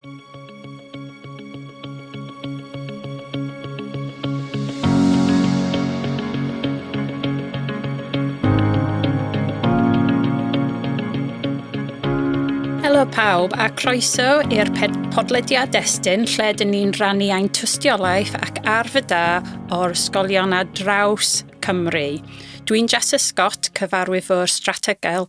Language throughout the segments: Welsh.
Helo pawb a croeso i'r podlediad destun lle dyn ni'n rannu ein tystiolaeth ac arf y da o'r ysgolion a draws Cymru. Dwi'n Jess Scott, cyfarwyfwr strategael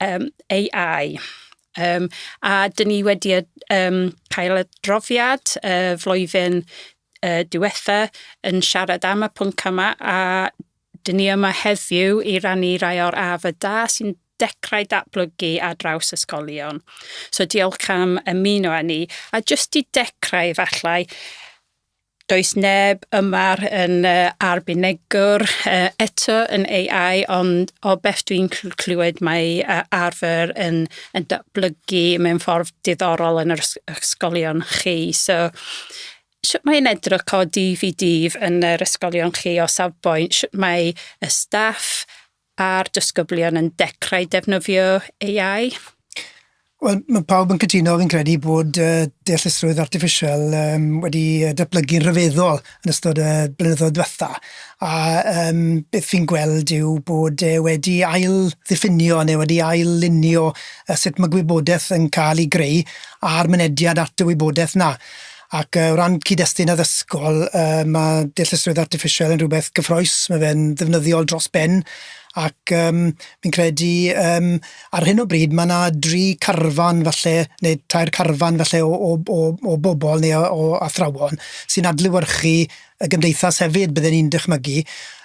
um, AI. Um, a dyn ni wedi um, cael adroddiad uh, flwyddyn uh, diwetha yn siarad am y pwnc yma a dyn ni yma heddiw i rannu rai o'r af y da sy'n dechrau datblygu ar draws ysgolion. So diolch am ymuno â ni. A jyst i dechrau efallai, Does neb yma yn uh, arbenigwr uh, eto yn AI, ond o beth dwi'n clywed mae uh, arfer yn, yn datblygu mewn ffordd diddorol yn yr ysgolion chi. So, sut mae'n edrych o dydd i dydd yn yr ysgolion chi o safbwynt? Sut mae y staff A'r disgyblion yn dechrau defnyddio AI? Wel, mae pawb yn cytuno, fi'n credu, bod uh, deallusrwydd artiffisial um, wedi datblygu'n rhyfeddol yn ystod y blynyddoedd diwetha. A um, beth fi'n gweld yw bod e wedi ail ddiffinio neu wedi ail lunio sut mae gwybodaeth yn cael ei greu a'r mynediad at y wybodaeth na. Ac o ran cyd-destun addysgol, yy ma' deallusrwydd artiffisial yn rwbeth gyffrous, ma' fe'n ddefnyddiol dros ben ac yym fi'n credu yym ar hyn o bryd ma' 'na dri carfan falle ne' tair carfan falle o o o o bobol ne' o o athrawon sy'n adlewyrchu y gymdeithas hefyd bydden i'n dychmygu.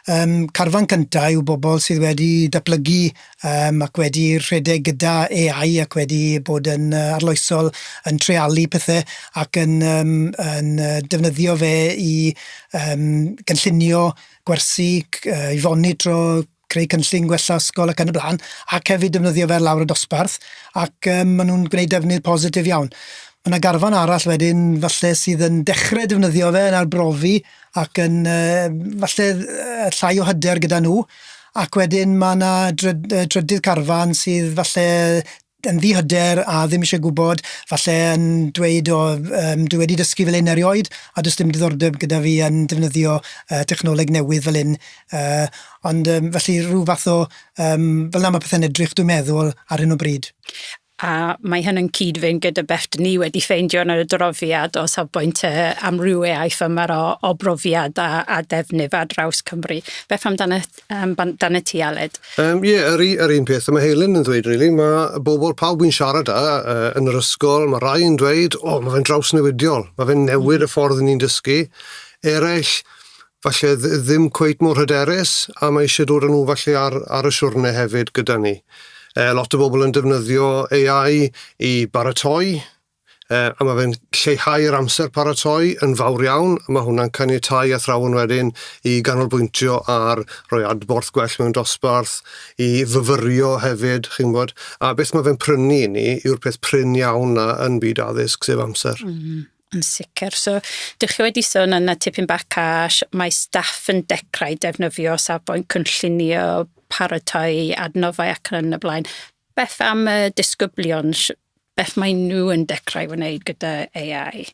Yym carfan cynta yw bobol sydd wedi datblygu yym ac wedi rhedeg gyda AI ac wedi bod yn yy arloesol yn treialu pethe ac yn yym yn yy defnyddio fe i yym gynllunio gwersi c- yy i fonitro creu cynllun gwella ysgol ac yn y bla'n ac hefyd defnyddio fe lawr y dosbarth ac yym ma' nw'n gwneud defnydd positif iawn. Ma' 'na garfan arall wedyn falle sydd yn dechre defnyddio fe yn arbrofi ac yn yym falle yy llai o hyder gyda nhw ac wedyn ma' 'na dryd- yy drydydd carfan sydd falle yn ddi-hyder a ddim isie gwbod falle yn dweud o yym dwi wedi dysgu fel 'yn erioed a does dim diddordeb gyda fi yn defnyddio yy technoleg newydd fel 'yn yy ond yym felly ryw fath o yym fel 'na ma' pethe'n edrych dwi'n meddwl ar hyn o bryd. a mae hyn yn cyd-fynd gyda beth dyn ni wedi ffeindio yn yr adroddiad o safbwynt y amrywiaeth yma o, o brofiad a, a defnydd ar draws Cymru. Beth amdano um, dan y ti, Aled? Um, ie, yeah, yr, yr un peth y mae Helen yn ddweud, really. Mae bobl pawb yn siarad â uh, yn yr ysgol, mae rai yn dweud, o, oh, mae fe'n drawsnewidiol, mae fe'n newid y ffordd ni'n dysgu. Eraill, falle ddi- ddim cweit mor hyderus a mae eisiau dod â nhw falle ar, ar y siwrne hefyd gyda ni. E, lot o bobl yn defnyddio AI i baratoi, e, a mae fe'n lleihau'r amser paratoi yn fawr iawn, a mae hwnna'n caniatau athrawon wedyn i ganolbwyntio ar roi adborth gwell mewn dosbarth, i fyfyrio hefyd, chi'n gwybod, a beth mae fe'n prynu i ni yw'r peth prin iawn na yn byd addysg, sef amser. Mm. Yn sicr. So, dych chi wedi sôn yna tipyn bach cash, mae staff yn dechrau defnyddio safbwynt cynllunio, paratoi, adnoddau ac yn y blaen. Beth am y disgyblion? Beth mae nhw yn dechrau wneud gyda AI?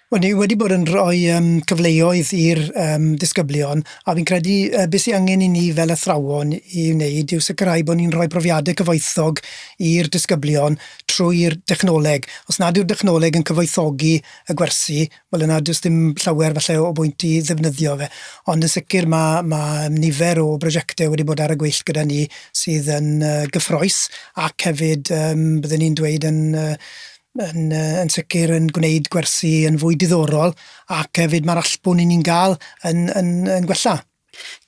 Wel, ni wedi bod yn rhoi um, cyfleoedd i'r um, disgyblion, a fi'n credu uh, beth sy'n angen i ni fel athrawon i wneud yw sicrhau bod ni'n rhoi profiadau cyfoethog i'r disgyblion trwy'r dechnoleg. Os nad yw'r dechnoleg yn cyfoethogi y gwersi, wel yna does dim llawer falle o bwynt i ddefnyddio fe. Ond yn sicr ma' ma' nifer o brosiecte wedi bod ar y gweill gyda ni sydd yn yy gyffrous ac hefyd yym bydden i'n dweud yn yy yn yy yn sicr yn gwneud gwersi yn fwy diddorol ac hefyd ma'r allbwn 'yn ni'n ga'l yn yn yn gwella.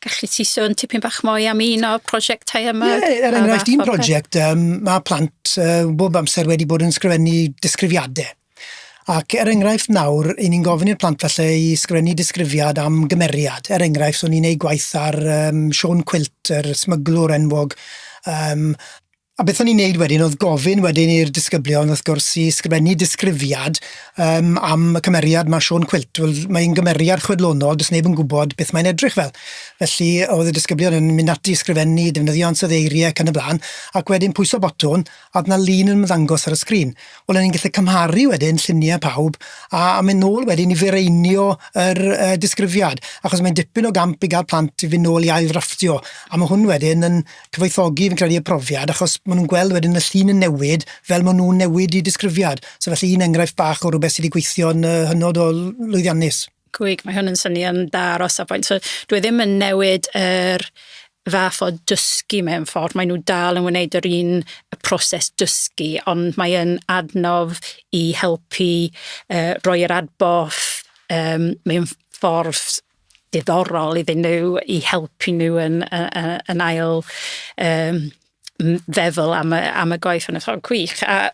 Galli ti sôn tipyn bach mwy am un o'r prosiectau yma? Ie, ie, er enghraifft, un prosiect, um, mae plant uh, bob amser wedi bod yn sgrifennu disgrifiadau. Ac er enghraifft nawr, i ni'n gofyn i'r plant falle i sgrifennu disgrifiad am gymeriad. Er enghraifft, so ni'n ei gwaith ar um, Sean Quilt, yr smyglwr enwog, um, A beth o'n i'n neud wedyn o'dd gofyn wedyn i'r disgyblion wrth gwrs i sgrifennu disgrifiad yym am y cymeriad 'ma Siôn Cwilt. Wel mae'n gymeriad chwedlonol do's neb yn gwbod beth mae'n edrych fel felly o'dd y disgyblion yn mynd ati i sgrifennu defnyddio ansoddeiri ac yn y bla'n ac wedyn pwyso botwm a o'dd 'na lun yn ymddangos ar y sgrin. Wel o'n ni'n gellu cymharu wedyn llunie pawb a a myn' nôl wedyn i fireinio yr yy disgrifiad achos mae'n dipyn o gamp i ga'l plant i fyn' nôl i ail ddrafftio a ma' hwn wedyn yn cyfoethogi fi'n credu y profiad achos ma' nw'n gweld wedyn y llun yn newid fel ma' nw'n newid 'u disgrifiad. So felly un enghraifft bach o rwbeth sy 'di gweithio'n yy hynod o l- lwyddiannus. Gwych, mae hwn yn swnio'n dda ar os a faint. So dwi ddim yn newid yr fath o dysgu mewn ffordd, mae nw dal yn wneud yr un y proses dysgu ond mae yn adnodd i helpu yy roi yr adborth yym mewn ffordd diddorol iddyn nhw i helpu nhw yn, yn, yn ail um, feddwl am y, am y gwaith yn y ffordd gwych. A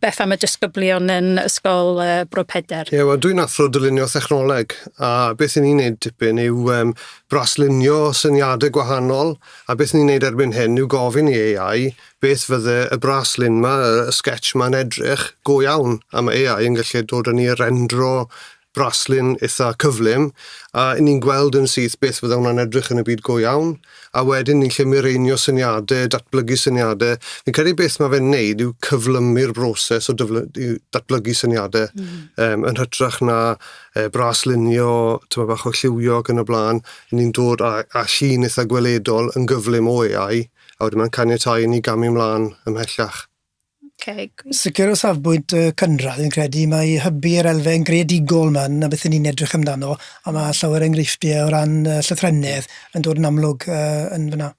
beth am y disgyblion yn Ysgol uh, Bro Peder? Ie, yeah, wel dwi'n athro dylunio thechnoleg a beth ni'n neud dipyn yw um, braslunio syniadau gwahanol a beth ni'n neud erbyn hyn yw gofyn i AI beth fydde y braslun ma, y sketch ma'n edrych go iawn a mae AI yn gallu dod yn ni rendro braslun eitha cyflym a ni'n gweld yn syth beth fydde hwnna'n edrych yn y byd go iawn a wedyn ni'n gallu mireinio syniadau, datblygu syniadau. Fi'n credu beth mae fe'n neud yw cyflymu'r broses o dyfly- datblygu syniadau mm. -hmm. um, yn hytrach na e, braslunio, tyma bach o lliwio ac yn y blaen. Ni'n dod â, â llun eitha gweledol yn gyflym o AI a wedyn mae'n caniatau i ni gamu ymlaen ymhellach. Okay, good. Sicr o safbwynt y cynradd yn credu mae hybu yr elfen greadigol yma na beth ni'n edrych amdano a mae llawer enghreifftiau o ran uh, llythrennedd yn dod yn amlwg uh, yn fyna.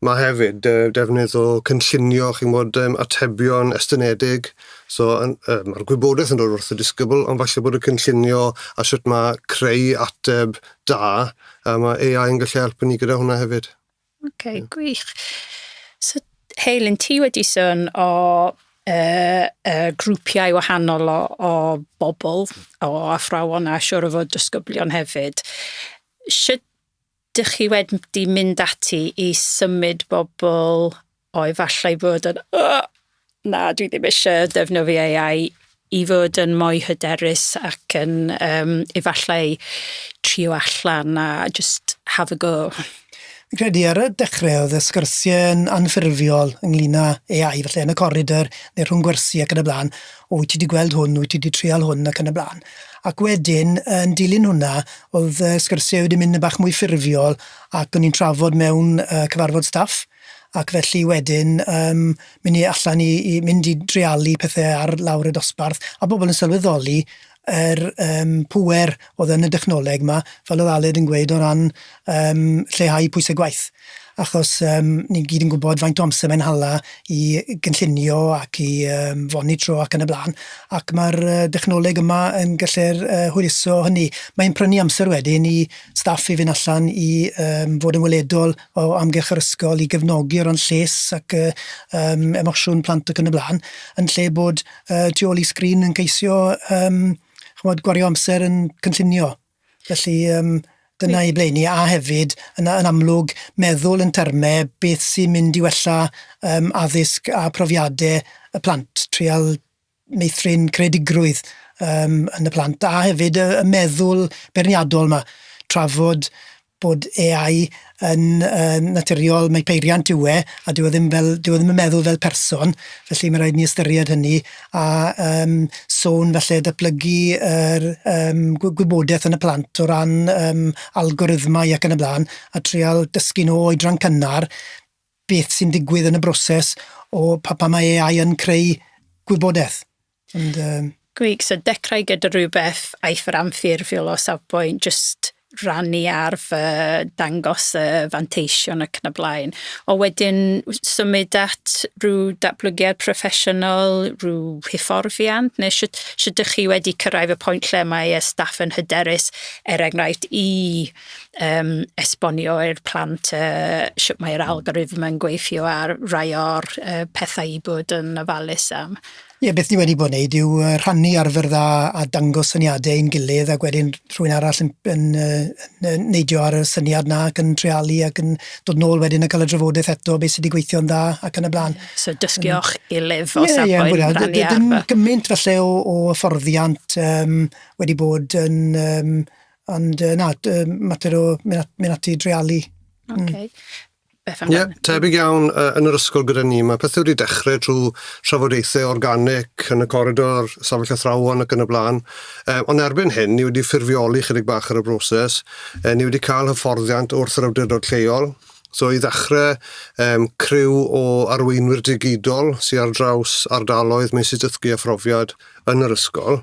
Mae hefyd uh, defnydd o cynllunio chi'n bod um, atebion estynedig, so um, mae'r gwybodaeth yn dod wrth y disgybl, ond falle bod y cynllunio a sut mae creu ateb da, a mae AI yn gallu helpu ni gyda hwnna hefyd. Ok, gwych. So, Heilyn, ti wedi sôn o uh, uh, grwpiau wahanol o, o bobl, o athrawon a siwr o fod dysgyblion hefyd. Sut dych chi wedi mynd ati i symud bobl O efallai fod yn Ugh! Na, dwi ddim ishe defnyddio Ay Eye i fod yn mwy hyderus ac yn yym efallai trio allan a jyst have a go. Fi'n credu ar y dechre o'dd y sgyrsie yn anffurfiol ynglŷn â Ay Eye falle yn y coridor ne' rhwng gwersi ac yn y bla'n o wyt ti 'di gweld hwn wyt ti 'di trial hwn ac yn y bla'n. Ac wedyn yn dilyn hwnna o'dd y sgyrsie wedi mynd yn bach mwy ffurfiol ac o'n i'n trafod mewn yy cyfarfod staff ac felly wedyn yym myn' i allan i i mynd i dreialu pethe ar lawr y dosbarth a bobol yn sylweddoli yr yym pŵer o'dd yn y dechnoleg 'ma fel o'dd Aled yn gweud o ran yym lleihau pwyse gwaith achos yym ni gyd yn gwbod faint o amser mae'n hala i gynllunio ac i yym fonitro ac yn y bla'n ac ma'r yy dechnoleg yma yn gallu'r yy hwyluso hynny mae'n prynu amser wedyn i staff i fyn' allan i yym fod yn weledol o amgylch yr ysgol i gefnogi o ran lles ac yy yym emosiwn plant ac yn y bla'n yn lle bod yy tu ôl i sgrin yn ceisio yym ch'mod gwario amser yn cynllunio. Felly yym dyna i ble 'yn ni a hefyd yn a- yn amlwg meddwl yn terme beth sy'n mynd i wella yym addysg a profiade y plant. Trial meithrin creadigrwydd yym yn y plant a hefyd y y meddwl beirniadol 'ma trafod bod Ay Eye yn yn naturiol mae peiriant yw e a dyw e ddim fel dyw e ddim yn meddwl fel person felly ma' raid ni ystyried hynny a yym sôn falle datblygu yr yym gwy- gwybodeth yn y plant o ran yym algorithmau ac yn y bla'n a trial dysgu nw oedran cynnar beth sy'n digwydd yn y broses o pa, pa mae AI yn creu gwybodaeth. And, um... Gwych, so dechrau gyda rhywbeth aeth yr anffurfiol o safbwynt just rannu ar fy dangos y fanteision ac yn y blaen. O wedyn symud at rhyw datblygiad proffesiynol, rhyw hyfforddiant, neu sut, sut ydych chi wedi cyrraedd y pwynt lle mae y staff yn hyderus, er enghraifft, i um, esbonio i'r plant uh, sut mae'r hmm. algorithm yn gweithio ar rai o'r uh, pethau i bod yn ofalus am. Ie, yeah, beth ni wedi bod yn neud yw uh, rhannu arfer dda a dangos syniadau i'n gilydd ac wedyn rhywun arall yn, yn, uh, yn neidio ar y syniad na ac yn trealu ac yn dod nôl wedyn yn cael y drafodaeth eto beth sydd wedi gweithio'n dda ac yn y blaen. Yeah, so dysgu o'ch gilydd o yeah, safbwynt yeah, rhannu arfer. Dim gymaint falle o, o hyfforddiant um, wedi bod yn um, Ond yy na d- yym mater o myn' at myn' ati i dreialu. Hmm. Oce. Beth am... Ie tebyg iawn yy yn yr ysgol gyda ni ma' pethe wedi dechre trw trafodaethe organic yn y coridor, safell athrawon ac yn y bla'n yy on' erbyn hyn ni wedi ffurfioli chydig bach ar y broses yy ni wedi ca'l hyfforddiant wrth yr awdurdod lleol so i ddechre yym criw o arweinwyr digidol sy ar draws ardaloedd meysydd dysgu a phrofiad yn yr ysgol.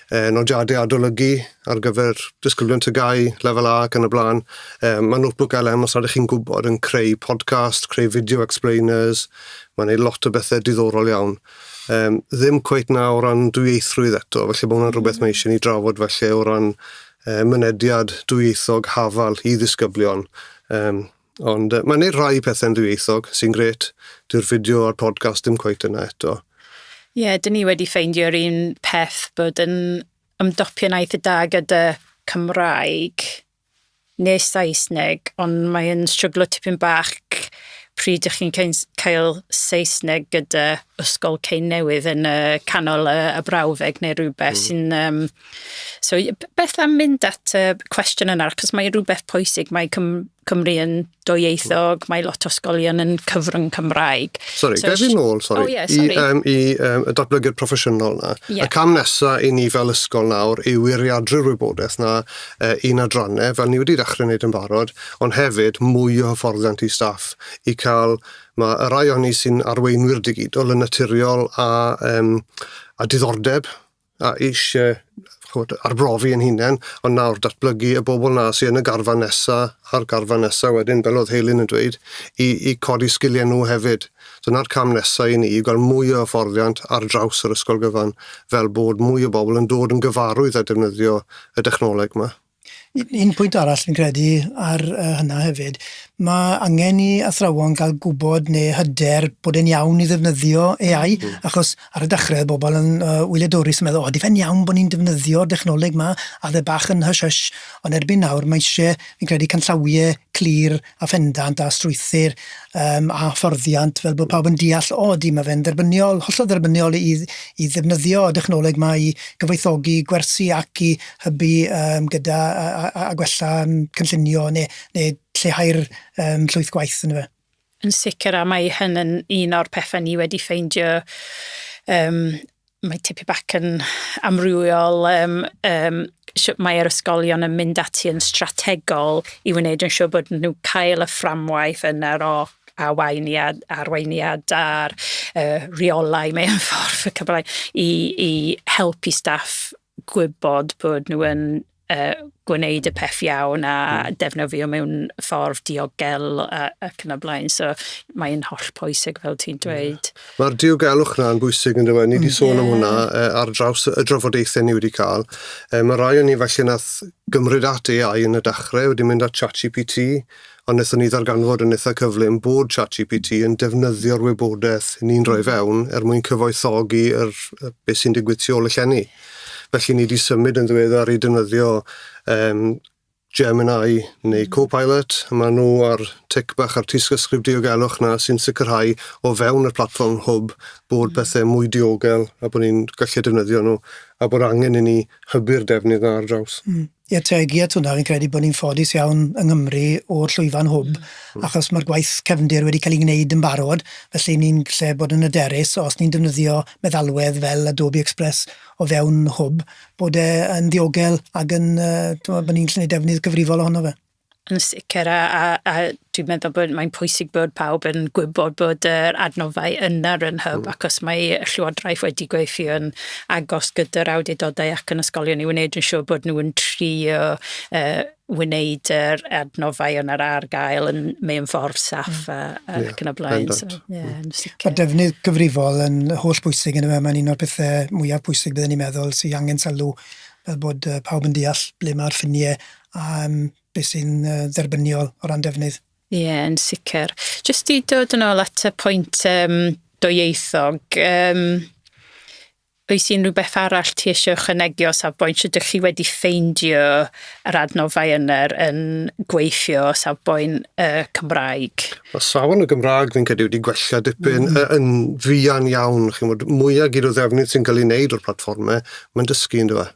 yy nodiade adolygu ar gyfer disgyblion TGAU lefel A ac yn y bla'n yy ma' notebook LM os ydych chi'n gwbod yn creu podcast, creu video explainers, ma'n neud lot o bethe diddorol iawn. Yym ddim cweit 'na o ran dwyieithrwydd eto felly ma' hwnna'n rwbeth mae isie ni drafod falle o ran yy mynediad dwyieithog hafal i ddisgyblion yym Ond uh, mae'n neud rhai pethau'n ddwyieithog, sy'n gret. Dyw'r fideo a'r podcast ddim cweit yna eto. Ie, yeah, dyn ni wedi ffeindio'r un peth bod yn ymdopion aeth y da gyda Cymraeg neu Saesneg, ond mae'n stryglo tipyn bach pryd ych chi'n cael Saesneg gyda ysgol cyn newydd yn y canol y, y brawddeg neu rhywbeth mm. sy'n um, So, beth am mynd at y cwestiwn yna, achos mae rhywbeth pwysig, mae Cym Cymru yn doieithog, mae lot o sgolion yn cyfrwng Cymraeg. Sorry, so, gael fi'n ôl, sorry, oh, yeah, sorry. i, um, i um, y datblygu'r proffesiynol yna. Yeah. Y cam nesaf i ni fel ysgol nawr yw wiriadru'r wybodaeth yna uh, un adrannau, fel ni wedi dechrau wneud yn barod, ond hefyd mwy o hyfforddiant i staff i cael mae y rai o'n ni sy'n arweinwyr digidol yn naturiol a, um, a diddordeb a eisie ch'mod arbrofi 'yn hunen on' nawr datblygu y bobol 'na sy yn y garfan nesa a'r garfan nesa wedyn fel o'dd Heilyn yn dweud i i codi sgilie nw hefyd. Dyna'r cam nesa i ni i ga'l mwy o hyfforddiant ar draws yr ysgol gyfan fel bod mwy o bobol yn dod yn gyfarwydd â defnyddio y dechnoleg 'ma. Un pwynt arall fi'n credu ar yy hynna hefyd ma' angen i athrawon ga'l gwbod ne' hyder bod e'n iawn i ddefnyddio Ay Eye achos ar y dechre o'dd bobol yn yy wyliadwrus yn meddwl o ydi fe'n iawn bo' ni'n defnyddio dechnoleg 'ma a o'dd e bach yn hysh hysh on' erbyn nawr ma' isie fi'n credu canllawie clir a phendant a strwythur um, a fforddiant fel bod pawb yn deall o di mae fe'n dderbyniol, hollol dderbyniol i, i ddefnyddio y dechnoleg yma i gyfoethogi gwersi ac i hybu um, gyda a, a, a gwella um, cynllunio neu, neu lleihau'r um, llwyth gwaith yn y fe. Yn sicr a mae hyn yn un o'r pethau ni wedi ffeindio um, Mae tipyn bach yn amrywiol um, um, sut mae'r ysgolion yn mynd ati yn strategol i wneud yn siŵr bod nhw'n cael y fframwaith yna o arweiniad, arweiniad a'r uh, rheolau mewn ffordd y Cymraeg i, i helpu staff gwybod bod nhw yn uh, gwneud y peth iawn a mm. defnyddio mewn ffordd diogel a, ac yn y blaen. So mae'n holl pwysig fel ti'n dweud. Yeah. Mae'r diogelwch yna yn bwysig yn dweud. Ni wedi sôn yeah. am hwnna uh, ar draws y drafodaethau ni wedi cael. Uh, mae rai o'n ni felly nath gymryd at AI yn y dechrau, wedi mynd at ChatGPT, a wnaethon ni ddarganfod yn eitha' cyflym bod ChatGPT yn defnyddio'r wybodaeth ni'n rhoi fewn er mwyn cyfoethogi yr yy be' sy'n digwydd tu ôl y llenni. Felly ni 'di symud yn ddiweddar i defnyddio yym Gemini neu hmm. Copilot, ma' nhw a'r tic bach a'r tystysgrif diogelwch 'na sy'n sicrhau o fewn y platfform hwb bod hmm. pethe mwy diogel a bod ni'n gallu defnyddio nhw a bod angen i ni hybu'r defnydd 'na ar draws. Mm. Ie, teg, ie, tŷ 'na, fi'n credu bod ni'n ffodus iawn yng Nghymru o'r llwyfan hwb, achos mae'r gwaith cefndir wedi cael ei wneud yn barod, felly ni'n gallu bod yn hyderus, os ni'n defnyddio meddalwedd fel Adobe Express o fewn hwb, bod e yn ddiogel ac yn, yy, timod, bod ni'n gallu gwneud defnydd cyfrifol ohono fe. Yn sicr a a a dwi'n meddwl bod mae'n pwysig bod pawb yn gwybod bod yr adnoddau yna yn hyb mm. achos mae Llywodraeth wedi gweithio'n agos gyda'r awdurdodau ac yn ysgolion i wneud yn siŵr bod nhw'n trio uh, wneud yr adnoddau yn yr ar gael yn mewn ffordd saff mm. a, a yeah, ac yn y blaen. So, yeah, mm. Mae defnydd gyfrifol yn holl bwysig yn y mae'n un o'r pethau mwyaf bwysig byddwn ni'n meddwl sy'n angen sylw fel bod pawb yn deall ble mae'r ffiniau a yym beth sy'n yy dderbyniol o ran defnydd. Ie, yn sicr. Jyst i dod yn ôl at y pwynt um, doieithog, um, oes unrhyw beth arall ti eisiau ychwanegu o safbwynt sydd ydych chi wedi ffeindio yr adnoddau yna yn gweithio o safbwynt y uh, Cymraeg? Mae safon y Gymraeg fi'n credu wedi gwella dipyn mm. yn fuan iawn. Chi'n bod mwyaf gyd o ddefnydd sy'n cael ei wneud o'r platfformau, mae'n dysgu yn dweud.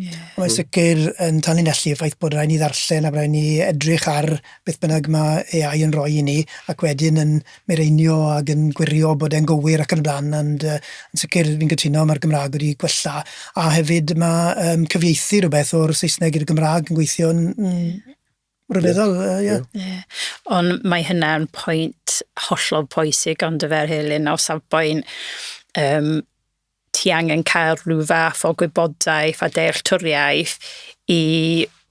Ie. Mae sicr yn tanlinellu y ffaith bod rhaid ni ddarllen a rhaid ni edrych ar beth bynnag mae AI yn rhoi i ni ac wedyn yn mireinio ac yn gwirio bod e'n gywir ac yn y blaen ond yy yn sicr fi'n cytuno mae'r Gymraeg wedi gwella a hefyd mae yym cyfieithu rhywbeth o'r Saesneg i'r Gymraeg yn gweithio'n mm, rhyfeddol yy ie. Ie. Ond mae hynna'n pwynt hollol pwysig ond y fel Elin o safbwynt yym ti angen cael rhyw fath o gwybodaeth a dealltwriaeth i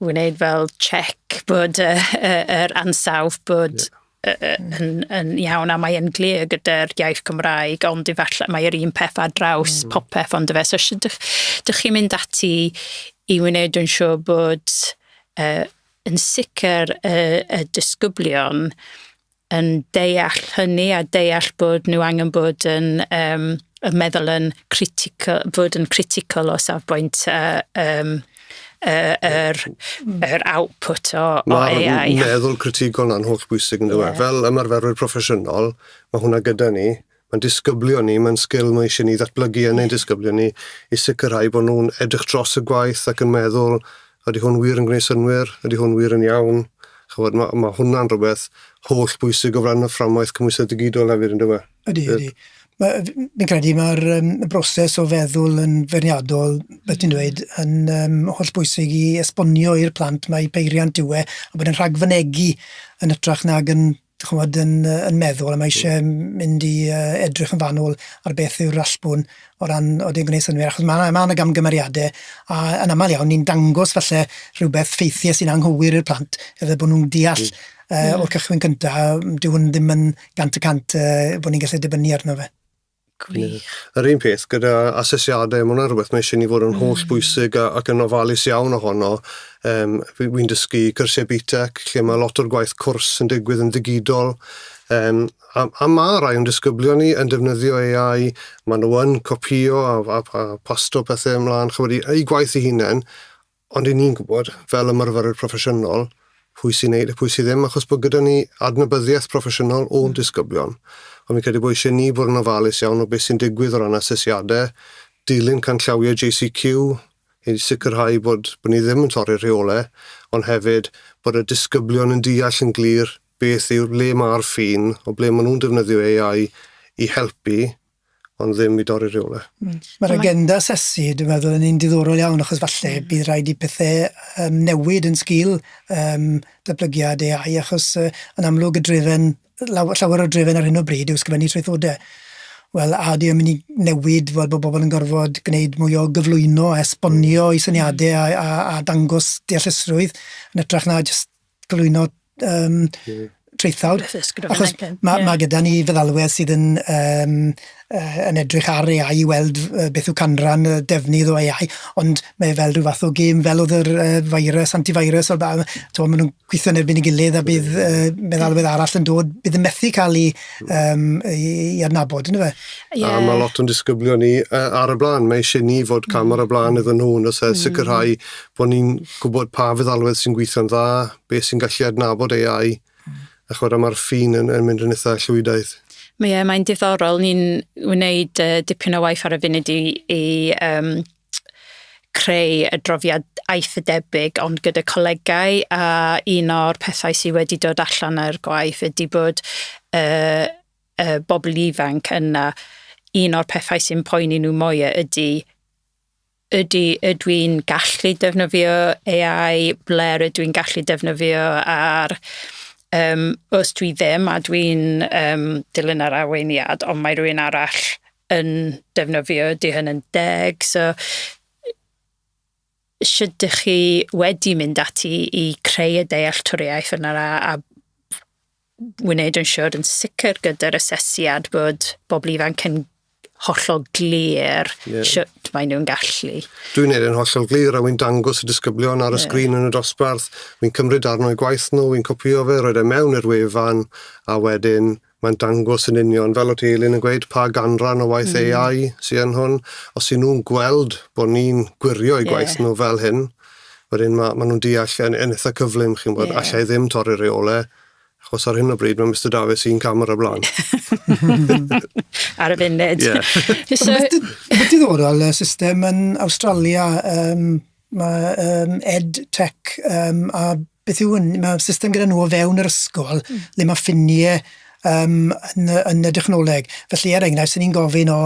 wneud fel check bod y, y, yr ansawdd bod yeah. yn, yn iawn a mae'n glir gyda'r iaith Gymraeg ond efallai mae'r un peth ar draws mm. popeth ond efe. So sydd dych, dych chi'n mynd ati i wneud yn siŵr bod uh, yn sicr y, y disgyblion yn deall hynny a deall bod nhw angen bod yn um, y meddwl yn critical, bod yn critical o safbwynt uh, um, yr, er, er output o, o AI. Mae meddwl critigol na'n holl bwysig yn dweud. Yeah. Fel ymarferwyr proffesiynol, mae hwnna gyda ni. Mae'n disgyblion ni, mae'n sgil mae eisiau ni ddatblygu yn ein disgyblion ni i sicrhau bod nhw'n edrych dros y gwaith ac yn meddwl ydy hwn wir yn gwneud synwyr, ydy hwn wir yn iawn. Chybod, mae, mae hwnna'n rhywbeth holl bwysig o flaen y fframwaith cymwysedd digidol hefyd, ynddo fe? Ydy, ydy. Fi'n credu mae'r um, broses o feddwl yn ferniadol, beth ti'n dweud, yn um, holl bwysig i esbonio i'r plant mae peiriant yw e, a bod yn rhagfynegu yn ytrach nag yn ch'mod, yn yy yn meddwl a mae isie m- mynd i yy edrych yn fanwl ar beth yw'r allbwn o ran o dim gwneud synnwyr achos ma' 'na ma' 'na gamgymeriade a yn amal iawn ni'n dangos falle rhywbeth ffeithiau sy'n anghywir i'r plant iddo bo' nw'n deall yy o'r cychwyn cynta yym dyw 'wn ddim yn gant y cant yy bo' ni'n gallu dibynnu arno fe. Gwych. Yr un peth gyda asesiadau, mae hwnna'n rhywbeth mae eisiau ni fod yn holl mm. bwysig a, ac yn ofalus iawn ohono. Um, Fi'n fi dysgu cyrsiau BTEC, lle mae lot o'r gwaith cwrs yn digwydd yn ddigidol. Um, a, a mae rai o'n disgyblion ni yn defnyddio AI, maen nhw yn copio a, a, a pasto pethau ymlaen, chymryd eu gwaith i hunain, Ond i ni'n gwybod, fel ymarferwyr proffesiynol, pwy sy'n neud a pwy sydd ddim, achos bod gyda ni adnabyddiaeth proffesiynol o'n disgyblion. Ond fi'n credu bod eisiau ni fod yn ofalus iawn o beth sy'n digwydd o ran asesiadau, dilyn canllawiau JCQ, i sicrhau bod, bod ni ddim yn torri'r rheolau, ond hefyd bod y disgyblion yn deall yn glir beth yw, le mae'r ffin, o ble maen nhw'n defnyddio AI i helpu, ond ddim i dorri rhywle. Mm. Mae'r agenda asesu, dwi'n meddwl, yn un diddorol iawn, achos falle mm. bydd rhaid i pethau um, newid yn sgil um, datblygiad AI, achos uh, yn amlwg y drefen, llawer o drefen ar hyn o bryd yw sgrifennu traethodau wel, a di yn mynd i newid fod bod bobl yn gorfod gwneud mwy o gyflwyno a esbonio i syniadau a, a, a dangos deallusrwydd yn ytrach na jyst cyflwyno um, traethawd. Achos mae yeah. ma gyda ni feddalwedd sydd yn, um, uh, yn edrych ar AI i weld uh, beth yw canran y defnydd o AI, ond mae fel rhyw fath o gêm fel oedd yr uh, virus, antivirus, o'r ba'n, to, maen nhw'n gweithio yn erbyn i gilydd a bydd uh, meddalwedd arall yn dod, bydd yn methu cael ei, um, i, i adnabod, yna fe? Yeah. A mae lot o'n disgyblion ni uh, ar y blaen, mae eisiau ni fod cam ar y blaen iddyn nhw, yn oes e, mm. sicrhau bod ni'n gwybod pa feddalwedd sy'n gweithio'n dda, beth sy'n gallu adnabod AI, hmm. a chwarae mae'r ffin yn, yn mynd yn eitha llwydaeth. Mae, e, mae'n diddorol, ni'n wneud uh, dipyn o waith ar y funud i, i um, creu y drofiad aeth y debyg ond gyda colegau a un o'r pethau sydd wedi dod allan ar gwaith ydy bod uh, uh, bobl ifanc yna un o'r pethau sy'n poeni nhw mwy ydy Ydy, ydw i'n gallu defnyddio AI, ble rydw i'n gallu defnyddio ar... Yym, os dwi ddim a dwi'n yym dilyn yr arweiniad ond mae rhywun arall yn defnyddio, ydy hynny'n deg? So, shwt dych chi wedi mynd ati i creu y dealltwriaeth yna a a wneud yn siwr yn sicr gyda'r asesiad bod bobl ifanc yn hollol glir yeah. sut maen nhw'n gallu. Dwi'n neud yn hollol glir a wy'n dangos y disgyblion ar y yeah. sgrin yn y dosbarth, wy'n cymryd arno i gwaith nhw, wy'n copio fe, roed e mewn i'r wefan a wedyn mae'n dangos yn union fel o ti Elin yn gweud pa ganran o waith mm. AI sy'n hwn. Os y'n nhw'n gweld bod ni'n gwirio i gwaith yeah. nhw fel hyn, wedyn ma' ma' nhw'n deall yn, yn eitha cyflym, chi'n gwybod, yeah. allai ddim torri'r reolau, achos ar hyn o bryd mae Mr Davies un cam ar y blaen. ar y funud. Yeah. so... Beth diddorol y system yn Australia, um, mae um, EdTech um, a beth yw hwn? Mae system gyda nhw o fewn yr ysgol mm. le mae ffiniau um, yn, y, yn y dechnoleg. Felly, er enghraifft, sy'n ni'n gofyn o,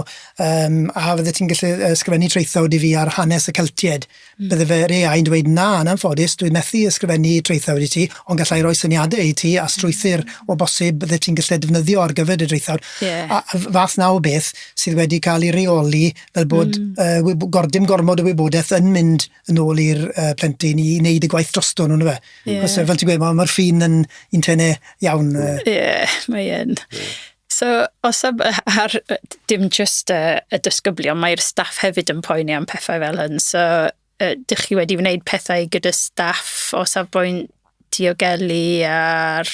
um, a fydde ti'n gallu ysgrifennu traethawd i fi ar hanes y Celtied? Mm. Bydde fe rei ai'n dweud, na, yn anffodus, dwi'n methu ysgrifennu traethawd i ti, ond gallai roi syniadau i ti a hmm. strwythyr o bosib bydde ti'n gallu defnyddio ar gyfer y traethawd. Yeah. A fath na o beth sydd wedi cael ei reoli fel bod mm. uh, gordym gormod o wybodaeth yn mynd yn ôl i'r uh, plentyn i wneud y gwaith drosto nhw, fe. Yeah. Cos fel ti'n gweud, mae'r ma ffin yn un tenau iawn. Ie, uh... yeah, mae yn. Yeah. So, os am, ar, dim just uh, y dysgyblion, mae'r staff hefyd yn poeni am pethau fel hyn. So, uh, dych chi wedi wneud pethau gyda staff o safbwynt diogelu a'r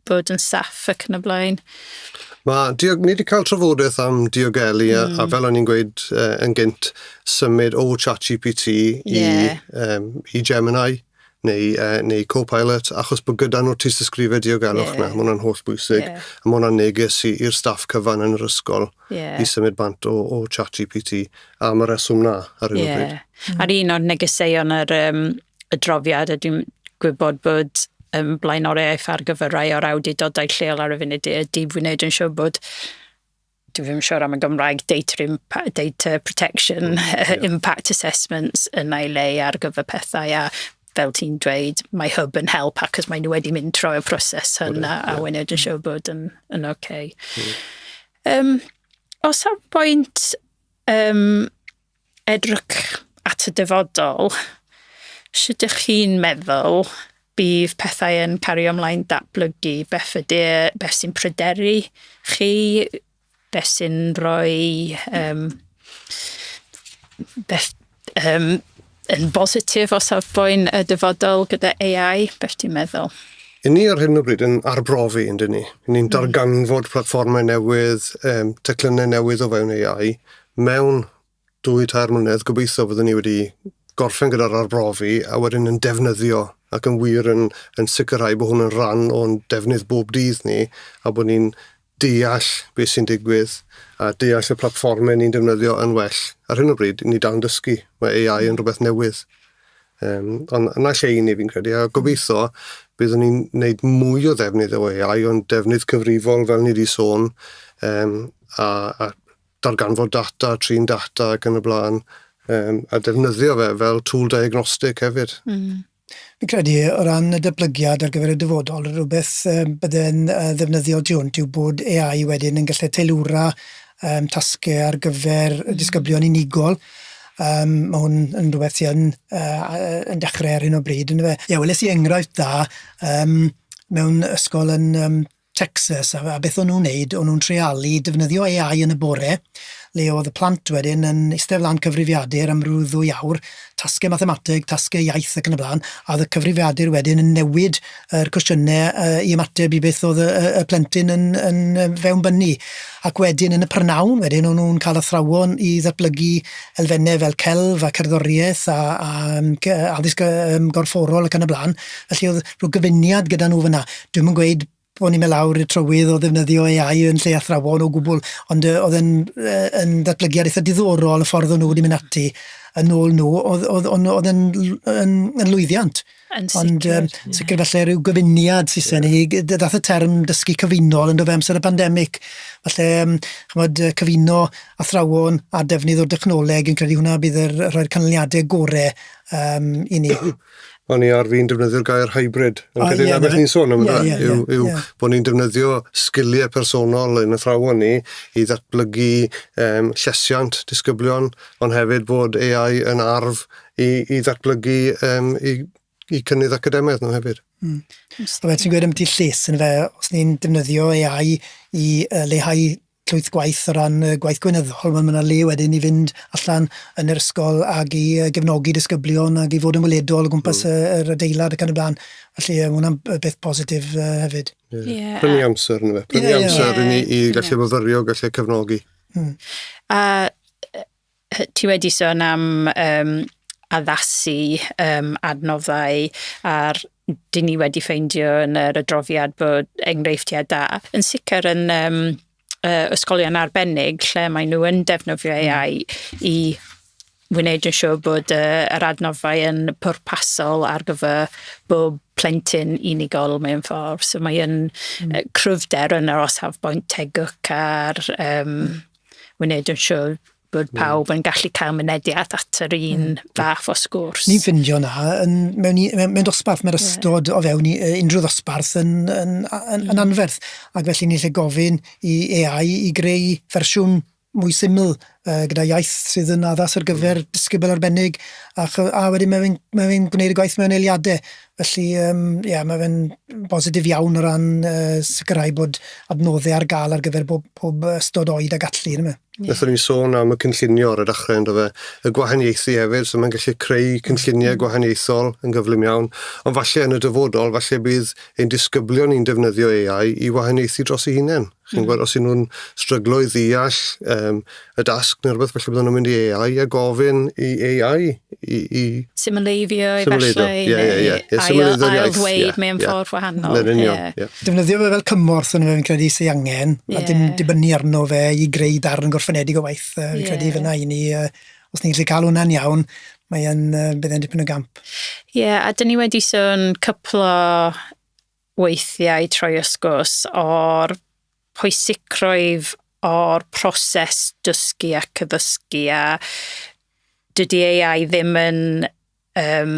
bod yn saff ac yn y blaen. Mae, diog, ni wedi cael trafodaeth am diogelu mm. a, a hmm. fel o'n i'n gweud uh, yn gynt, symud o ChatGPT i, yeah. um, i Gemini neu, uh, neu Copilot, achos bod gyda nhw tis ysgrifau diogelwch yeah. na, mae hwnna'n holl bwysig, yeah. a mae hwnna'n neges i'r staff cyfan yn yr ysgol yeah. i symud bant o, o ChatGPT am y reswm na ar hyn yeah. o bryd. Mm. A'r un o'r negeseuon ar um, adroddiad, a dwi'n gwybod bod um, blaenoriaeth ar gyfer rai o'r awdurdodau lleol ar y funud ydy wneud yn siŵr bod dwi ddim yn siŵr am y Gymraeg data, impact, data protection mm, yeah. impact assessments yn ei le ar gyfer pethau a fel ti'n dweud, mae hub yn help ac os maen nhw wedi mynd trwy'r proses hyn a, a wneud yn mm. siŵr bod yn, yn oce. Okay. Mm. Um, os ar bwynt um, Edrych at y dyfodol, sut ych chi'n meddwl bydd pethau yn cario ymlaen datblygu? Beth ydy e, beth sy'n pryderu chi, beth sy'n rhoi yym beth yym yn bositif o safbwynt y dyfodol gyda AI, beth ti'n meddwl? Yn ni ar hyn o bryd yn arbrofi, yndyn ni. Ni'n hmm. darganfod platfformau newydd, um, teclynnau newydd o fewn AI, mewn dwy tair mlynedd gobeithio fyddwn ni wedi gorffen gyda'r arbrofi a wedyn yn defnyddio ac yn wir yn yn sicrhau bod hwn yn rhan o'n defnydd bob dydd ni a bod ni'n deall beth sy'n digwydd a deall y platfformau ni'n defnyddio yn well. Ar hyn o bryd, ni dal yn dysgu. Mae AI yn rhywbeth newydd. Um, ond yna lle i ni fi'n credu, a gobeithio byddwn ni'n gwneud mwy o ddefnydd o AI, ond defnydd cyfrifol fel ni wedi sôn, um, a, a darganfod data, trin data ac yn y blaen, um, a defnyddio fe fel tool diagnostic hefyd. Mm. Fi'n credu o ran y dyblygiad ar gyfer y dyfodol, rhywbeth um, bydde'n uh, ddefnyddiol tu hwnt yw bod AI wedyn yn gallu teilwra um, tasgau ar gyfer mm. disgyblion unigol. Um, mae hwn yn rhywbeth sy'n uh, yn dechrau ar hyn o bryd, yn fe? Ie, yeah, weles i enghraifft da um, mewn ysgol yn um, Texas, a a beth o'n nhw'n neud, o'n nhw'n treialu defnyddio Ay Eye yn y bore, le o'dd y plant wedyn yn istedd lan cyfrifiadur am ryw ddwy awr, tasge mathemateg, tasge iaith ac yn y bla'n, a o'dd y cyfrifiadur wedyn yn newid yr cwestiyne yy i ymateb i beth o'dd y y y plentyn yn yn yy fewnbynnu, ac wedyn yn y prynawn wedyn o'n nhw'n ca'l athrawon i ddatblygu elfenne fel celf a cerddorieth a a yym cy- yy addysg yy yym gorfforol ac yn y bla'n, felly o'dd rhyw gyfuniad gyda nhw fyna. Dwi'm yn gweud bo' ni'n myn' lawr i'r trywydd o ddefnyddio Ay Eye yn lle athrawon o gwbwl ond yy o'dd e'n yy yn ddatblygiad eitha diddorol y ffordd o'n n'w wedi myn' ati yn ôl n'w o'dd o'dd o'n n'w o'dd e'n l- yn yn lwyddiant. Yn sicir. Ond yym ie. sicir falle ryw gyfuniad Saeson i gy- dy- dath y term dysgu cyfunol on'd do fe amser y pandemic falle yym ch'mod yy cyfuno athrawon a defnydd o dechnoleg fi'n credu hwnna bydd yr yy rhoi'r canlyniade gore yym i ni. O'n i ar fin defnyddio'r gair hybrid. Yn oh, credu yeah, beth ni'n sôn am yeah, yeah, yw, yeah, yw yeah. bod ni'n defnyddio sgiliau personol yn y thrawon ni i ddatblygu um, llesiant disgyblion, ond hefyd bod AI yn arf i, i ddatblygu um, i, i cynnydd academaidd nhw hefyd. Mm. So, ti'n gweud am ti lles yn fe, os ni'n defnyddio AI i uh, leihau llwyth gwaith o ran y gwaith gweinyddol, wel ma' 'na le wedyn i fynd allan yn yr ysgol ag i yy gefnogi disgyblion ag i fod yn weledol o gwmpas y yr adeilad ac yn y bla'n. Felly yy ma' hwnna'n b- beth positif yy hefyd. Ie. Ie. Prynu amser yndyfe? Prynu Ie, ie. amser i ni i gallu myfyrio, gallu cefnogi. Hmm. A yy Ti wedi sôn am um, addasu um, adnoddau a'r dyn ni wedi ffeindio yn yr adroddiad bod enghreifftiau da. Yn sicr yn um, uh, ysgolion arbennig lle maen nhw yn defnyddio hmm. AI mm. i wneud yn siŵr bod uh, yr adnoddau yn pwrpasol ar gyfer bob plentyn unigol mewn ffordd. So mae'n mm. uh, cryfder yn yr osaf boint tegwch a'r um, wneud yn siŵr bod pawb yn gallu cael mynediad at yr un mm. fath o sgwrs. Ni'n ffindio na, yn, mewn, mewn, mewn dosbarth, mae'r ystod yeah. o fewn i, unrhyw ddosbarth yn, yn, yn, yn mm. anferth, ac felly ni'n lle gofyn i AI i greu fersiwn mwy syml uh, gyda iaith sydd yn addas ar gyfer mm. disgybl arbennig a, a wedyn mae'n mae gwneud y gwaith mewn eiliadau. Felly, yym, ie, ma' fe'n bositif iawn o ran, yy, sicirhau bod adnodde ar ga'l ar gyfer bob pob yy ystod oed a gallu, on'd yw e? Ie. Nethon ni sôn am y cynllunio ar y dachre on'd do fe? Y gwahaniaethu hefyd, so ma'n gallu creu cynllunie gwahaniaethol yn gyflym iawn, ond falle yn y dyfodol, falle bydd ein disgyblion ni'n defnyddio Ay Eye i wahaniaethu dros eu hunen. Chi'n gwybod, os y'n nhw'n stryglo i ddeall um, y dasg neu rhywbeth, felly bydden nhw'n mynd i AI a gofyn i AI i... i... Simuleiddio, efallai, yeah, yeah, yeah. yeah. Simuleiddio iaith. ddweud yeah, mewn yeah. ffordd wahanol. Mae'n union, yeah. yeah. Defnyddio fe fel cymorth yn ymwneud credu sy'n angen, yeah. a dim dibynnu arno fe i greu darn gorffenedig o waith. Uh, yeah. Credu fyna i ni, uh, os ni'n gallu cael hwnna'n iawn, mae'n uh, bydd e'n dipyn o gamp. Ie, yeah, a dyn ni wedi sôn cyplo weithiau troi ysgwrs o'r pwysigrwydd o'r proses dysgu ac addysgu a dydy AI ddim yn yym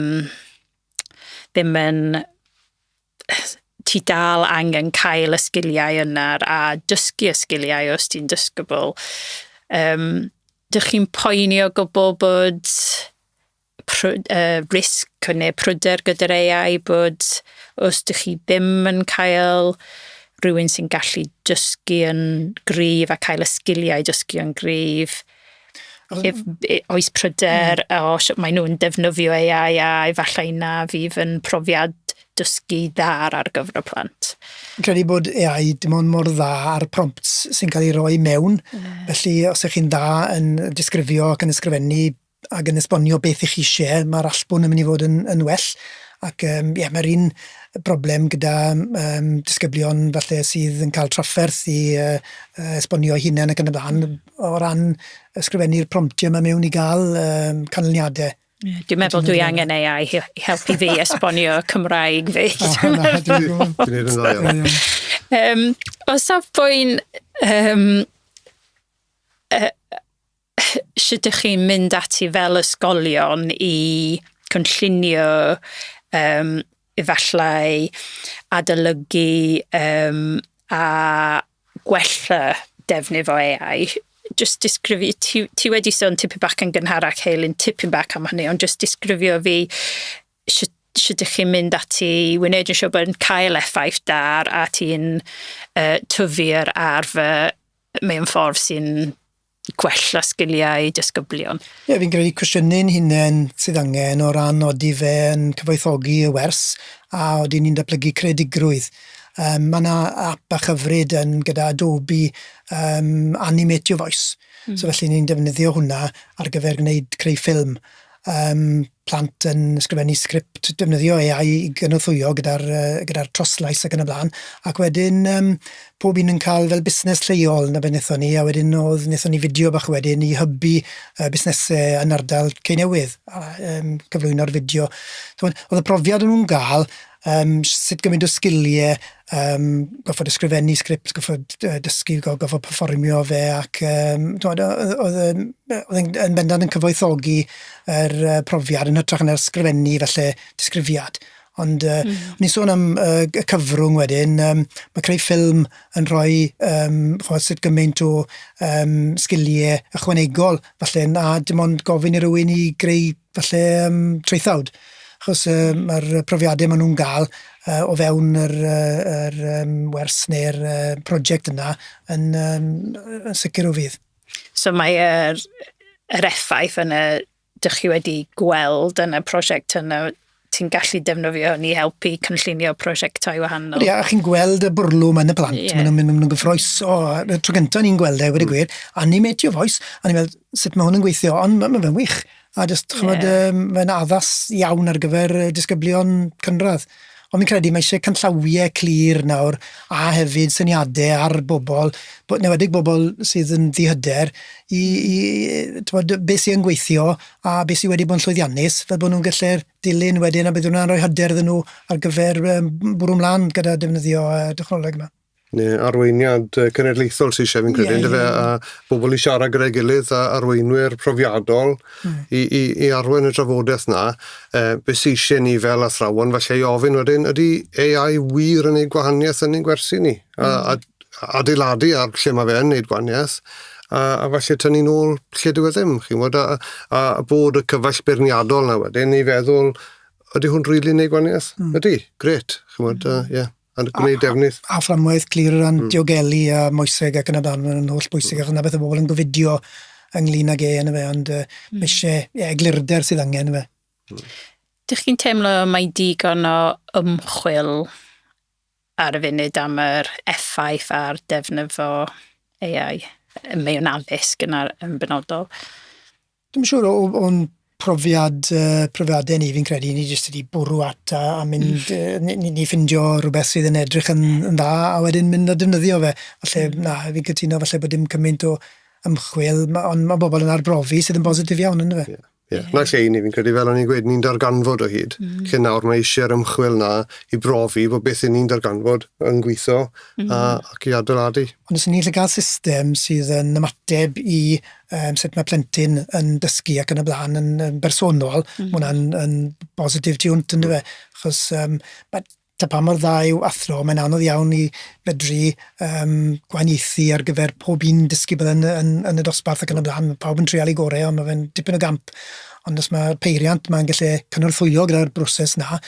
ddim yn ti dal angen cael y sgiliau yna a dysgu y sgiliau os ti'n dysgybl. Yym dych chi'n poeni o gwbl bod pryd, uh, risg neu pryder gyda'r AI bod os dych chi ddim yn cael rhywun sy'n gallu dysgu yn gryf a cael y sgiliau dysgu yn gryf, if, oes pryder mm. o sut maen nhw'n defnyddio AI a efallai na fydd yn profiad dysgu ddar ar gyfer y plant. Credu bod AI dim ond mor dda ar prompts sy'n cael ei roi mewn, yeah. felly os ych chi'n dda yn disgrifio ac yn ysgrifennu ac yn esbonio beth y'ch chi isie, mae'r allbwn yn mynd i fod yn yn well ac yym ie mae'r un broblem gyda yym disgyblion falle sydd yn ca'l trafferth i yy yy esbonio'u hunen ac yn y bla'n o ran ysgrifennu'r promptie 'ma mewn i ga'l yym canlyniade. Ie dwi'n meddwl dwi angen Ay Eye i helpu fi esbonio Cymraeg fi. Dwi'n meddwl. Yym o safbwynt yym yy sut dych chi'n mynd ati fel ysgolion i cynllunio yym efallai adolygu yym a gwella defnydd o Ay Eye jyst disgrifi- ti ti wedi sôn tipyn bach yn gynharach Heulyn tipyn bach am hynny ond jyst disgrifio fi shwt shwt dych chi'n mynd ati i wneud yn siŵr bod e'n cael effaith da a ti'n yy tyfu'r arfe mewn ffordd sy'n gwella sgiliau disgyblion. Ie, fi'n credu cwestiynu ein hunain sydd angen o ran odi fe yn cyfoethogi y wers a odi ni'n datblygu creadigrwydd. Um, mae yna app bach hyfryd yn gyda Adobe um, Animate Your Voice. Mm. So felly ni'n defnyddio hwnna ar gyfer gwneud creu ffilm. Um, plant yn ysgrifennu sgript, defnyddio AI i gynorthwyo gyda'r yy gyda'r troslais ac yn y bla'n, ac wedyn yym pob un yn ca'l fel busnes lleol 'na be' nethon ni a wedyn o'dd nethon ni fideo bach wedyn i hybu yy busnese yn ardal Cei Newydd a yym cyflwyno'r fideo t'mod o'dd y profiad o'n nw'n ga'l yym sut gymaint o sgilie Yym, gorfod ysgrifennu sgript, gorfod yy dysgu, go- gorfod perfformio fe ac yym timod o- oedd oedd e'n yy oedd e'n yn bendant yn cyfoethogi yr yy profiad yn hytrach na ysgrifennu falle disgrifiad. Ond yy... M-hm. ...o'n i'n sôn am yy y cyfrwng wedyn yym ma' creu ffilm yn rhoi yym ch'mod sut gymaint o yym sgilie ychwanegol falle na dim ond gofyn i rywun i greu falle yym traethawd achos yym ma'r yy profiade ma' nw'n ga'l yy o fewn yr yy yr yym wers ne'r yy project yna yn yym yy yn sicir o fudd. So mae yr yr effaith yna dych chi wedi gweld yn y prosiect yn y ti'n gallu defnyddio ni helpu cynllunio prosiectau wahanol. Ie, a chi'n gweld y bwrlwm yn y plant, yeah. maen nhw'n nhw gyffroes o, y tro gyntaf ni'n gweld e, wedi mm. gwir, a ni'n metio foes, a ni'n meddwl, sut mae hwn yn gweithio, ond mae'n ma fe'n wych. A jyst, chymod, yeah. um, mae'n addas iawn ar gyfer disgyblion cynradd. Ond mi'n credu mae eisiau canllawiau clir nawr a hefyd syniadau ar bobl, newedig bobl sydd yn ddihyder, i, i tywed, beth sy'n gweithio a be sydd wedi bod yn llwyddiannus, fel bod nhw'n gallu'r dilyn wedyn, a bydd hwnna'n rhoi hyder iddyn nhw ar gyfer bwrw mlaen gyda defnyddio y technoleg yma. Neu arweiniad cenedlaethol sy'n eisiau fi'n credu, yeah, yeah. a bobl i siarad gyda'i gilydd a arweinwyr profiadol mm. i, i, i arwain y drafodaeth na, e, beth sy'n eisiau ni fel athrawon, falle i ofyn wedyn, ydy AI wir yn ei gwahaniaeth yn ein gwersi ni? A, mm. a adeiladu ar lle mae fe yn wneud gwaniaeth, a, a falle tynnu nôl lle dyw e ddim, chi'n gwybod, a, a bod y cyfaill beirniadol na wedyn i feddwl, ydy hwn rili really wneud gwaniaeth? Mm. Ydy, gret, chi'n gwybod, ie. Mm. Yeah a gwneud defnydd. A, a, a fframwaith glir o ran mm. diogelu a moeseg ac yn y blaen, mae'n holl bwysig, mm. achos na beth y bobl yn gofidio ynglyn ag e yn y fe, ond uh, mm. eisiau yeah, eglurder sydd angen y fe. Mm. Dych chi'n teimlo mae digon o ymchwil ar y funud am yr effaith ar defnyddio AI ym mewn addysg yn ar- yn benodol? Dwi'm yn siŵr o o o'n profiad yy profiade ni fi'n credu ni jyst wedi bwrw at a a mynd hmm. yy ni ni ni ffindio rwbeth sydd yn edrych yn yn dda a wedyn mynd a defnyddio fe. Falle hmm. na, fi'n cytuno falle bod dim cymaint o ymchwil ma' on' ma' bobol yn arbrofi sydd yn bositif iawn yndyfe? Ie. Ie, 'na lle i ni, fi'n credu, fel o'n i'n gweud, ni'n darganfod o hyd. Mm. Lle nawr mae eisiau'r ymchwil 'na i brofi bod beth 'yn ni'n darganfod yn gweithio mm. a, mm-hmm. ac i adeiladu. Ond os 'yn ni'n gallu cael system sydd yn ymateb i um, sut mae plentyn yn dysgu ac yn y blaen yn, yn bersonol, mm. Mm-hmm. mae hwnna'n yn bositif tiwnt, ynddo fe? Achos um, mae ta pa mor dda yw athro, mae'n anodd iawn i fedru um, gwahaniaethu ar gyfer pob un dysgu bydd yn, yn, yn y dosbarth ac yn y blaen. Mae pawb yn treol ei gorau, ond mae fe'n dipyn o gamp. Ond os mae peiriant, mae'n gallu cynorthwyo gyda'r broses na,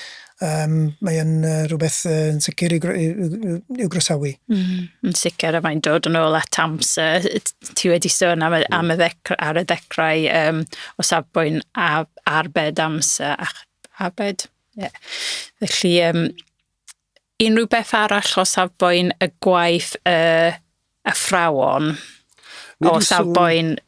um, mae'n uh, rhywbeth uh, yn sicr i'w, i'w, i'w groesawu. Mm, yn sicr, a mae'n dod yn ôl at amser. Ti wedi sôn am, am y ddecra, ar y ddechrau um, o safbwynt a, arbed amser a arbed Ie. Felly, um, unrhyw beth arall o safbwynt y gwaith y athrawon, o safbwynt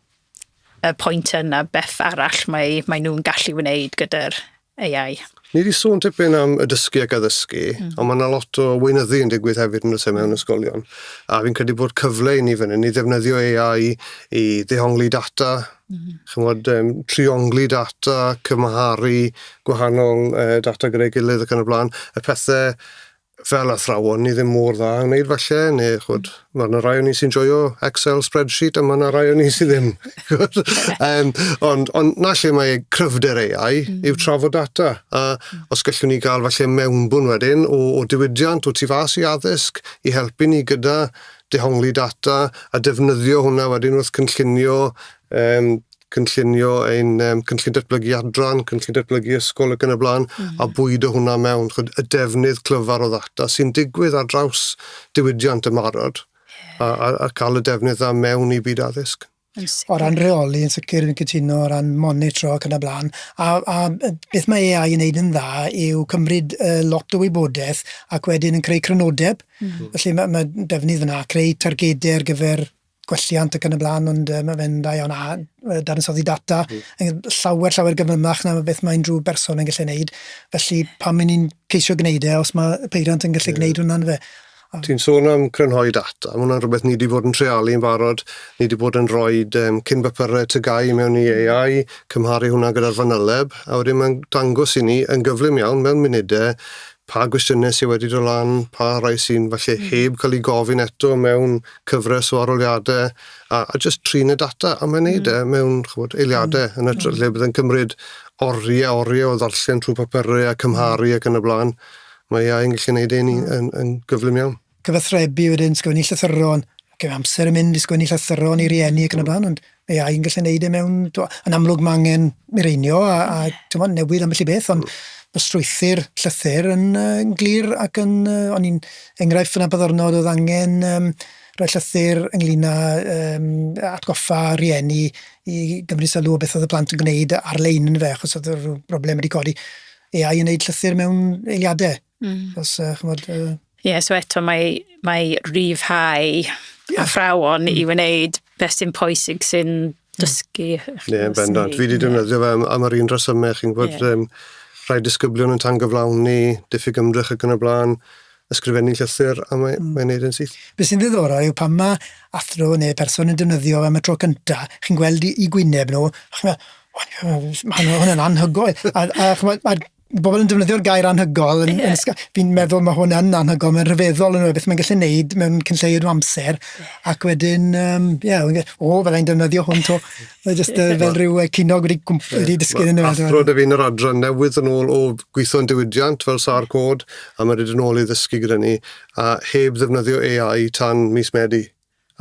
y pwynt yna, beth arall mae, mae nhw'n gallu wneud gyda'r AI? Ni wedi sôn tipyn am y dysgu ac addysgu, mm. ond mae yna lot o weinyddu yn digwydd hefyd yn y mewn hmm. ysgolion. A fi'n credu bod cyfle i ni fan hyn i ddefnyddio AI i ddehongli data, ch'mod yym triongli data, cymharu gwahanol yy data gyda'i gilydd ac yn y bla'n, y pethe fel athrawon ni ddim mor dda yn wneud falle ne' ch'mod ma' 'na rai o ni sy'n joio excel spreadsheet a ma' 'na rai o ni sy ddim ch'mod yym ond ond 'na lle mae cryfder Ay Eye yw trafod data a os gellwn ni ga'l falle mewnbwn wedyn o o diwydiant o tu fas i addysg i helpu ni gyda dehongli data a defnyddio hwnna wedyn wrth cynllunio um, cynllunio ein um, cynllun datblygu adran, cynllun datblygu ysgol ac yn y blaen, mm -hmm. a bwyd o hwnna mewn. Chod, y defnydd clyfar o ddata sy'n digwydd ar draws diwydiant y marod a, a, a cael y defnydd dda mewn i byd addysg. O ran rheoli yn sicr fi'n cytuno o ran monitro ac yn y blaen a a yy beth mae Ay I yn neud yn dda yw cymryd yy lot o wybodaeth ac wedyn yn creu crynodeb. Hmm. Felly ma' ma' defnydd yna, creu targede ar gyfer gwelliant ac yn y blaen ond yy ma' fe'n dda iawn a yy dadansoddi data yn hmm. llawer llawer gyflymach na beth mae unrhyw berson yn gallu neud. Felly pam 'yn ni'n ceisio gneud e os ma' peiriant yn gallu yeah. gneud hwnna yndyfe? A ti'n sôn am crynhoi data, ma' wnna'n rwbeth ni 'di bod yn treialu'n barod, ni 'di bod yn roid yym cyn bapure TGAU mewn i AI, cymharu hwnna gyda'r fanyleb, a wedyn ma'n dangos i ni yn gyflym iawn, mewn munude, pa gwestiyne sy wedi do' lan, pa rai sy'n falle heb ca'l 'u gofyn eto mewn cyfres o aroliade, a a jyst trin y data, a mae'n neud e mewn, ch'mod, eiliade, yn ytrach lle bydd e'n cymryd orie a orie o ddarllen trw papure a cymharu ac yn y bla'n. Mae iau yn gallu neud un yn, yn gyflym iawn. Cyfathrebu wedyn, sgwennu llythyron, gyda amser yn mynd i sgwennu llythyron i rieni ac yn y blaen, ond mae iau yn gallu neud e mewn, yn amlwg mae angen mireinio a, a tymod, newid ambell i beth, ond mae strwythyr llythyr yn, uh, yn glir ac yn, uh, o'n i'n enghraifft fyna byddornod oedd angen um, rhoi llythyr ynglyn â um, atgoffa rieni i gymryd sylw o beth oedd y plant yn gwneud ar-lein yn fe, achos oedd y broblem wedi codi. AI yn neud llythyr mewn eiliadau. Mm. Os, uh, chymod, uh... Ie, so eto mae, mae rhyfhau yeah. athrawon mm. i wneud beth sy'n pwysig sy'n mm. dysgu. Ie, yeah, bendant. Fi wedi defnyddio fe am, am yr un dros yma, chi'n gwybod, yeah. um, rhai disgyblion yn tan gyflawni, diffyg ymdrech ac yn y blaen. ysgrifennu llythyr a mae, mm. mae'n neud yn syth. Be sy'n ddiddorol yw pan mae athro neu person yn defnyddio am y tro cynta, chi'n gweld i, i gwyneb nhw, chi'n meddwl, mae hwnna'n anhygoel. a, a chymod, mae bobl yn defnyddio'r gair anhygol. Yn, yeah. yn, fi'n meddwl mae hwn yn anhygol, mae'n rhyfeddol yn rhywbeth mae'n gallu gwneud mewn cynlleid o amser. Ac wedyn, um, yeah, o, fyddai'n defnyddio hwn to. Mae jyst uh, fel rhyw uh, cinog wedi, wedi dysgu'n yna. Athro dy fi'n yr adran newydd yn ôl o gweithio'n diwydiant fel sar cod, a mae wedi yn ôl i ddysgu gyda ni, a heb ddefnyddio AI tan mis Medi.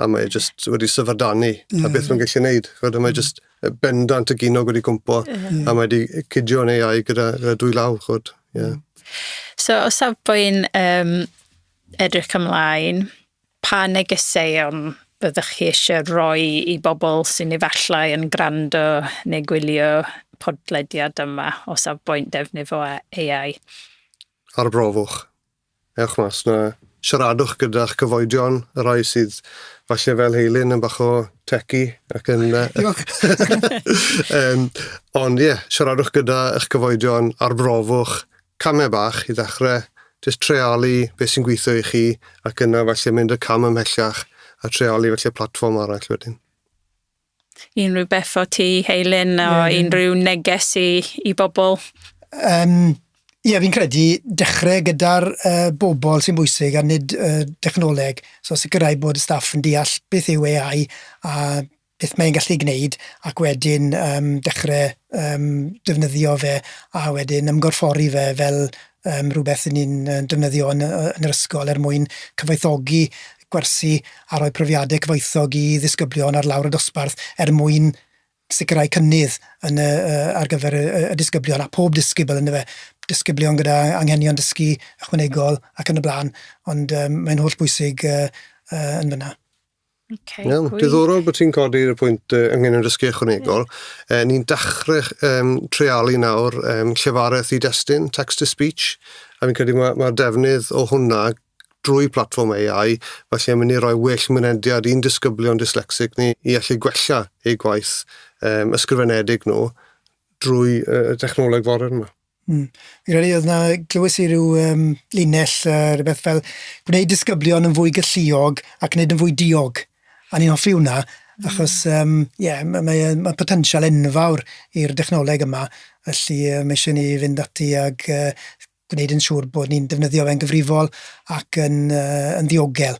A mae jyst wedi syfrdanu, yeah. a beth mae'n gallu gwneud. Fod mae jyst bendant y ginog wedi cwmpo, yeah. a mae wedi cydio'n AI gyda, gyda dwy law, chod. Yeah. So, o safbwynt um, edrych ymlaen, Pa negeseuon fyddech chi eisiau rhoi i bobl sy'n efallai yn gwrando neu gwylio podlediad yma o safbwynt defnydd o AI? Arbrofwch. Ewch mas 'na, siaradwch gyda'ch cyfoedion, y rhai sydd falle fel Heilyn yn bach o techy ac yn... Diolch! Ond ie, siaradwch gyda'ch cyfoedion, arbrofwch, Camau bach i ddechrau, jyst treialu beth sy'n gweithio i chi ac yna falle mynd y cam ymhellach a treialu falle platfform arall wedyn. Unrhyw beth o ti, Heilyn, o yeah. unrhyw neges i, i bobl? Um, Ie, yeah, fi'n credu dechrau gyda'r uh, bobl sy'n bwysig a nid uh, dechnoleg. So sicrhau bod y staff yn deall beth yw AI a beth mae'n gallu gwneud ac wedyn yym dechre yym defnyddio fe a wedyn ymgorffori fe fel yym rhwbeth 'yn ni'n yy defnyddio yn yy yn yr ysgol er mwyn cyfoethogi gwersi a rhoi profiade cyfoethog i ddisgyblion ar lawr y dosbarth er mwyn sicirau cynnydd yn y yy ar gyfer y y y disgyblion a pob disgybl yndyfe? Disgyblion gyda anghenion dysgu ychwanegol ac yn y bla'n ond yym mae'n hollbwysig yy yy yn fyn 'na. Okay, Iawn, gwych. diddorol bod ti'n codi'r pwynt uh, ynglyn â dysgu ychwanegol. Yeah. Uh, ni'n dachrau um, treialu nawr um, llefareth i destun, text to speech, a fi'n credu mae'r ma defnydd o hwnna drwy platform AI, felly yn mynd i roi well mynediad i'n disgyblion dyslexic ni i allu gwella eu gwaith um, ysgrifenedig nhw drwy uh, y technoleg foren yma. Hmm. Fi'n credu oedd 'na... Glywes i ryw yym linell yy rywbeth fel gwneud disgyblion yn fwy galluog ac nid yn fwy diog, a o'n i'n hoffi hwnna achos yym ie ma' mae e'n ma' potensial enfawr i'r dechnoleg yma, felly yy ma' isie ni fynd ati ag yy gwneud yn siŵr bod ni'n defnyddio fe'n gyfrifol ac yn yy yn ddiogel.